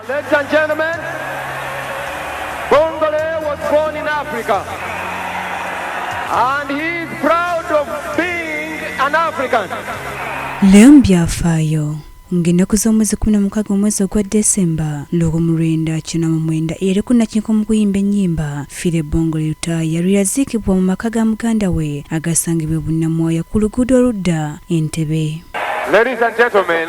Ladies and gentlemen, Bongole was born in Africa. And he is proud of being an African. Leo mbyafaayo ng'ennaku z'omwezi kumi na mukaaga omwezi ogwa desemba lwogo mu lwenda kina mu mwenda eyali ku nakinko mu kuyimba ennyimba fire bongo lutaaya lwe yaziikibwa mu maka ga muganda we agasangibwa e bunnamwaya ku luguudo oludda entebe Ladies and gentlemen,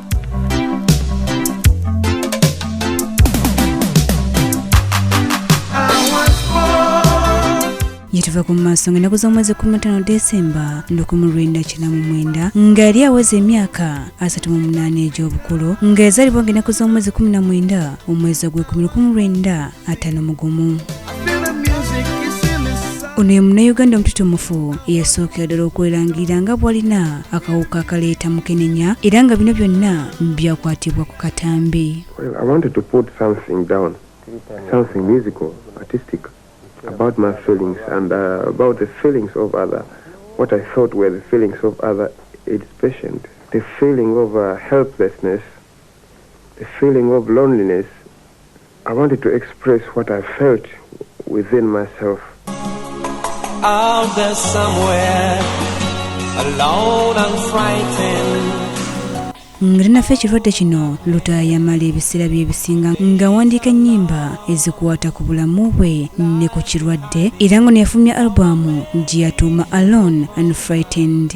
yetava ku maaso nga ennaku z'omwezi kumi mutano desemba lukumi lwenda kina mu mwenda nga yali aweza emyaka asatu mu munaana egy'obukulu nga ezalibwa nga ennaku z'omwezi kumi na mwenda omwezi ogw'ekumi lukumi lwenda atano mugumu ono ye munnayuganda omututumufu eyasookera ddala okwerangira nga bwalina akawuka akaleeta mukenenya era nga bino byonna byakwatibwa ku katambi about my feelings and uh, about the feelings of other what i thought were the feelings of other aids patient the feeling of uh, helplessness the feeling of loneliness I wanted to express what I felt within myself. Out there somewhere, alone and frightened. nga tanafa ekirwadde kino luta yamala ebiseera byebisinga ng'awandiika ennyimba ezikwata ku bulamu bwe ne ku kirwadde era nga neyafulumya albamu gye yatuuma alone and frightened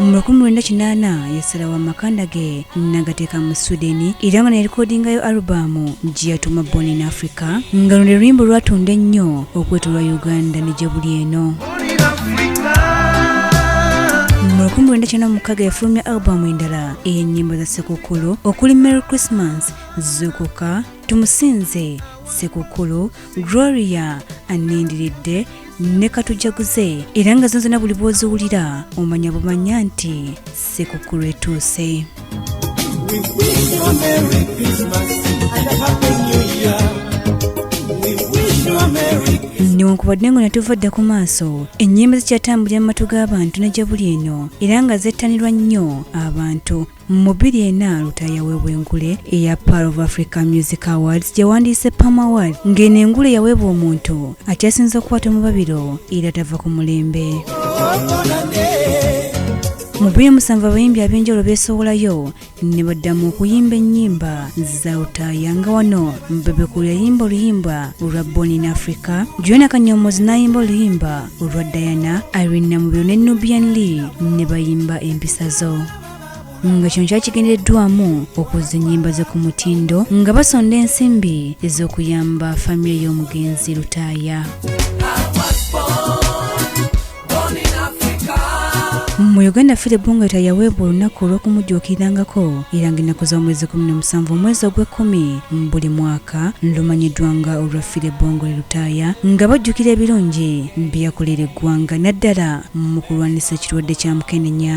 mu lukumi lwenda kinaana yasalawo amakanda ge nagateeka mu sweden era nga nerikodingayo alubamu gye yatuuma born in africa nga luno luluyimba olwatunda ennyo okwetolwa uganda ne gye buli eno mu lukumi lwenda kyenda mukaaga yafulumya alubamu endala ey'ennyimba za ssekukkulu okuli merry christmas zuukuka tumusinze sekukulu gloria anindiridde ne katujaguze era nga zonzona buli bwoziwulira omanya bumanya nti sekukulu etuuse newankubadde nga natuva dda ku maaso ennyimba zikyatambulira mu matu g'abantu ne gye buli eno era nga zettanirwa nnyo abantu Mu bbiri ena Lutaaya yaweebwa engule eya Pearl of Africa Music Awards gye wandiise Pam Award ng'eno engule yaweebwa omuntu akyasinze okukwata omubabiro era tava ku mulembe. Mu bbiri musanvu abayimbi ab'enjawulo beesowolayo ne baddamu okuyimba ennyimba za Lutaaya nga wano Bebe Cool yayimba oluyimba olwa Born in Africa, Juliana Kanyomozi n'ayimba oluyimba olwa Diana, Irene Namubiru ne Nubian Lee ne bayimba Empisa zo. nga kino kyali kigendereddwamu okuzza ennyimba ze ku mutindo nga basonda ensimbi ez'okuyamba famire y'omugenzi lutaaya mu uganda fire bongata yaweebwa olunaku olw'okumujjuukirirangako era nga ennaku z'omwezi 17 omwezi ogw'ekkumi mu buli mwaka lumanyiddwa nga olwa fire bongole lutaaya nga bajjukira ebirungi byeyakolera eggwanga naddala mu kulwanyisa ekirwadde kya mukenenya